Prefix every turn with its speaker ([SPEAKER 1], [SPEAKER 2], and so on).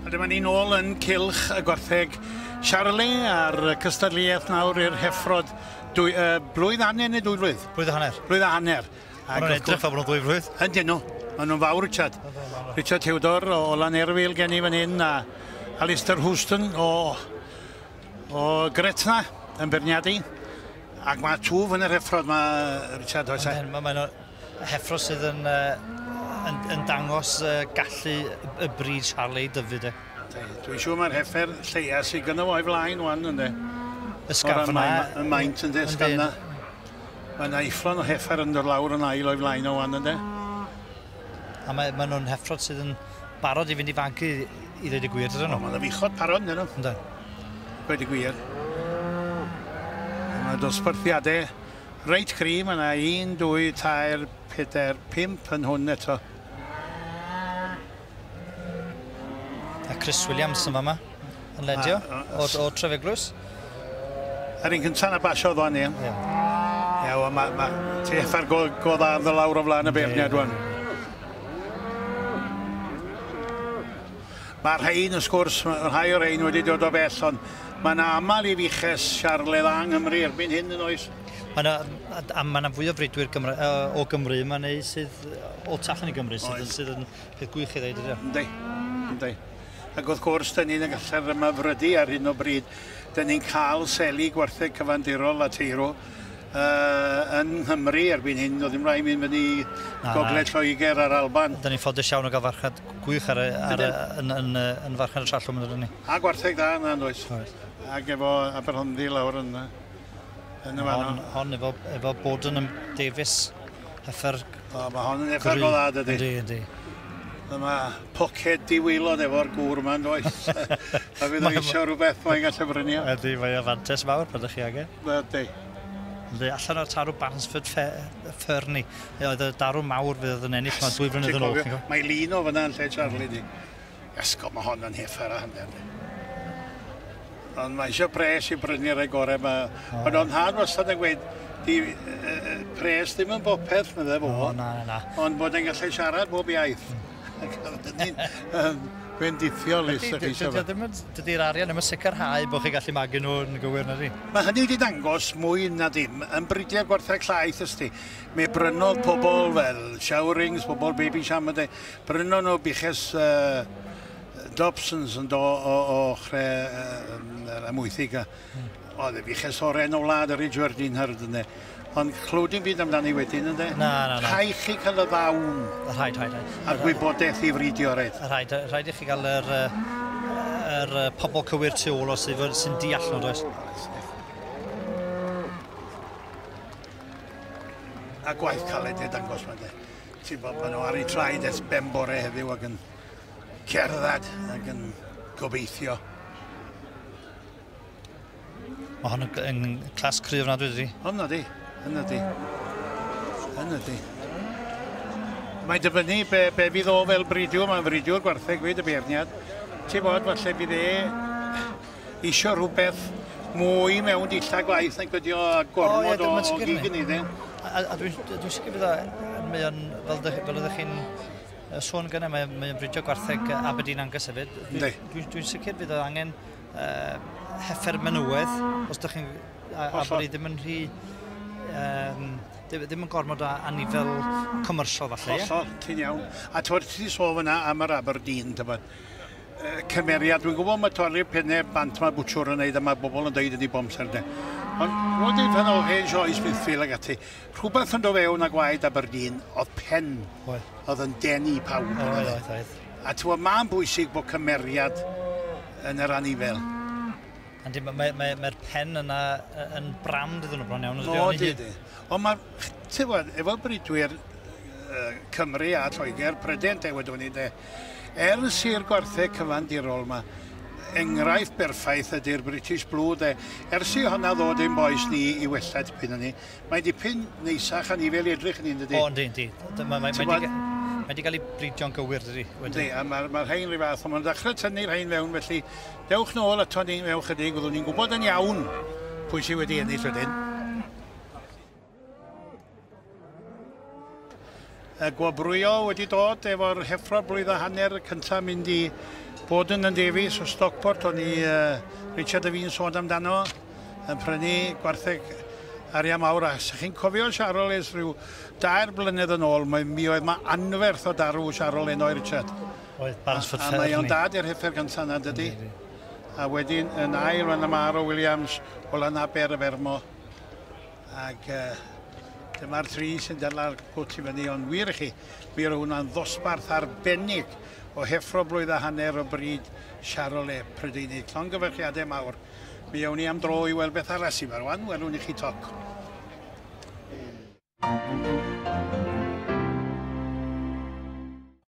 [SPEAKER 1] A dyma ni nôl yn cylch y gwartheg Charlie a'r cystadleuaeth nawr i'r heffrod dwy, uh, blwydd hanner neu dwy flwydd? Blwydd a hanner. Blwydd a
[SPEAKER 2] hanner.
[SPEAKER 1] Ac Mae'n edrych fel bod nhw'n
[SPEAKER 2] ddwy flwydd. Yn dyn nhw. Maen nhw'n
[SPEAKER 1] fawr, Richard. Richard Theodor o Lan Erfil gen i fan hyn a Alistair Houston o, o Gretna yn berniadu. Ac mae twf yn yr heffrod ma, Richard, oes e? Mae yna
[SPEAKER 2] heffro sydd yn, uh, yn, yn dangos uh, gallu y bryd Charlie Dyfyd e. Dwi'n siŵr mae'r
[SPEAKER 1] heffer lleia sydd gyda fo'i flaen wan ynddo. Ysgafna.
[SPEAKER 2] Y maint
[SPEAKER 1] ynddo, ysgafna. Mae yna eifron o heffer yn dod lawr yn ail o'i flaen o wan ynddo.
[SPEAKER 2] A mae, mae nhw'n heffrod sydd yn barod i fynd i fanc i, i ddweud y gwir, dydyn nhw? O, mae ddyfichod parod yn nhw.
[SPEAKER 1] Ynda.
[SPEAKER 2] Gweud y
[SPEAKER 1] gwir. Mae dosbarthiadau reit cri, mae yna 1, 2, 3, 4, 5 yn hwn eto.
[SPEAKER 2] A Chris Williams yn fama. Yn ledio o Trefiglwys.
[SPEAKER 1] Yr un cyntaf na basiodd o'n i. Ie, wel, mae ma, ti effa'r go, go dda yn lawr o flaen y beirniad o'n. Mae rhain, wrth gwrs, rhai o'r rhain wedi dod o bell, ond mae yna aml i fiches siarledd a Nghymru erbyn hyn yn oes. Mae yna
[SPEAKER 2] ma fwy o fridwyr Gymru, o Gymru yma neu sydd o tu allan i Gymru sydd, sydd yn peth gwych i ddeud ydy. Ynddi, ynddi.
[SPEAKER 1] Ac wrth gwrs, dan ni'n y gallu'r ymafrydu ar hyn o bryd. Dan ni'n cael seli gwartheg cyfandirol Lateiro uh, yn Nghymru erbyn hyn. Doedd ddim rhaid mynd fyny na, gogledd Lloegr a'r Alban. Dyna ni'n ffodus iawn o gael
[SPEAKER 2] farchnad gwych ar, ar, yn, yn, yn, farchnad y trallwm yn ydyn ni. A gwartheg dda yna, yn
[SPEAKER 1] oes. Ac efo Aberhonddu lawr yna. Yn y fan Hon, efo,
[SPEAKER 2] efo bod yn ymdefus heffer... O, mae hon yn
[SPEAKER 1] heffer go dda, dydy. Ydy, ydy.
[SPEAKER 2] Mae ma
[SPEAKER 1] poced diweilod efo'r gŵr yma, does? a fydd o eisiau rhywbeth mae'n gallu brynu. Ydy, mae o fantes
[SPEAKER 2] mawr pan ydych chi angen. Ydy.
[SPEAKER 1] Ydy, allan
[SPEAKER 2] o'r tarw Bansford Ferni. Oedd y darw mawr fydd yn ennill, mae dwy flynedd yn ôl. Mae lun o fyna yn
[SPEAKER 1] lle Charlie di. Iasgob, mae hon yn hith ar y hanner ni. Ond mae eisiau pres i brynu rhai gorau. Mae, oh. Ond o'n hân wastad yn gweud, di, uh, pres ddim yn bopeth, medde fo. Oh, na, na. Ond bod
[SPEAKER 2] yn gallu
[SPEAKER 1] siarad bob iaith. Mm. Fe'n dithiol i sy'n chi
[SPEAKER 2] Dydy'r arian ddim yn sicrhau bod chi gallu magu nhw yn gywir na di? Mae hynny wedi dangos
[SPEAKER 1] mwy na ddim yn bridiau gwarthau llaeth ysdi. Mae brynodd pobl fel showerings, pobl baby shaman, Prynon nhw buches Dobsons yn do o ochre yr amwythig. Oedd y buches o'r enw wlad yr Ridgeworth Dean Hurd ynddo. Ond clywed i'n byd amdani wedyn ynddo. Na, na, na. Rhaid chi
[SPEAKER 2] cael y
[SPEAKER 1] ddawn. Rhaid, rhaid, rhaid.
[SPEAKER 2] A gwybodaeth
[SPEAKER 1] i fridio, rhaid. Rhaid, rhaid i chi gael
[SPEAKER 2] yr, yr pobl cywir tu ôl os sy'n deall nhw, does?
[SPEAKER 1] A gwaith caled i'r dangos mae Ti'n gwybod, maen nhw ar eu traed ers ben bore heddiw ac yn cerdded ac yn gobeithio.
[SPEAKER 2] Mae hwn yn clas cryf nad wedi. Hwn ydi, hwn ydi.
[SPEAKER 1] Hwn ydi. Mae'n dyfynnu be, be fydd o fel bridiwr, mae'n fridiwr gwartheg fyd y beirniad. Ti'n bod, falle bydd e isio rhywbeth mwy mewn dillad gwaith nag ydi o a gormod o, o gig yn ei A, a dwi'n dwi
[SPEAKER 2] sicr bod o, mae o'n, fel, fel ydych chi'n sôn gynnau, mae, mae o'n bridio gwartheg Aberdeen Angus hefyd. Dwi'n dwi, dwi sicr bydd o angen uh, heffer menywedd, os ydych chi'n... A, a bod ni ddim yn rhy... Um, ddim yn gormod o anifel commersial falle. Hollol, ti'n iawn.
[SPEAKER 1] A ti'n ti sôn fyna am yr Aberdeen, tybod. cymeriad. Dwi'n gwybod mae torri'r penne bant mae bwtwr yn neud a mae bobl yn deud ydi bob amser de. Ond roedd yn rhan o hen sioe Smithfield ag ati. Rhywbeth yn do fewn a gwaed Aberdeen oedd pen. Oedd. Oedd yn denu pawb. Oedd, oedd, oedd. A ti'n gwybod, mae'n bwysig bod cymeriad yn yr anifel. Yndi, mae'r mae,
[SPEAKER 2] mae, mae pen yna yn brand iddyn nhw bron iawn. O, di, di. Ond mae,
[SPEAKER 1] ti'n gwybod, efo bridwyr Cymru a Lloegr, Prydain te wedwn ni, de, Er y sir gwartheg cyfandirol ma, engraifft berffaith ydy'r British Blue de, ers i honna ddod ein bois ni i wella tipyn yni. Mae dipyn neisach anifel i edrych yni yndydi? O yndi, yndi. Mae
[SPEAKER 2] mae mae di, mae di gael ei bridio'n gywir dydi? Yndi, a mae'r ma
[SPEAKER 1] rhain rhyw fath, ond mae'n dechrau tynnu rhain fewn felly dewch nôl ato ni mewn chydig, fyddwn ni'n gwybod yn iawn pwy sydd wedi ennill wedyn. y gwobrwyo wedi dod efo'r heffro blwydd a hanner cyntaf mynd i bod yn Davies o Stockport o'n i uh, Richard y fi'n sôn amdano yn prynu gwartheg arian mawr a sych chi'n cofio Siarol es rhyw dair blynedd yn ôl mae, mi oedd mae anferth o darw Siarol enoi Richard oedd Bansford
[SPEAKER 2] Fair a mae o'n dad i'r
[SPEAKER 1] heffer gyntaf yna dydy a wedyn yn ail fan y mar o Williams o lan aber y fermo Ac uh, dyma'r tri sy'n dyla'r cwt i fyny, ond wir i chi, mi roedd hwnna'n ddosbarth arbennig o heffro blwydd a hanner o bryd Charole Prydeinig. Llongyfarchiadau mawr. Mi awn ni am dro i weld beth arall sy'n farwan, welwn i chi toc. Thank you.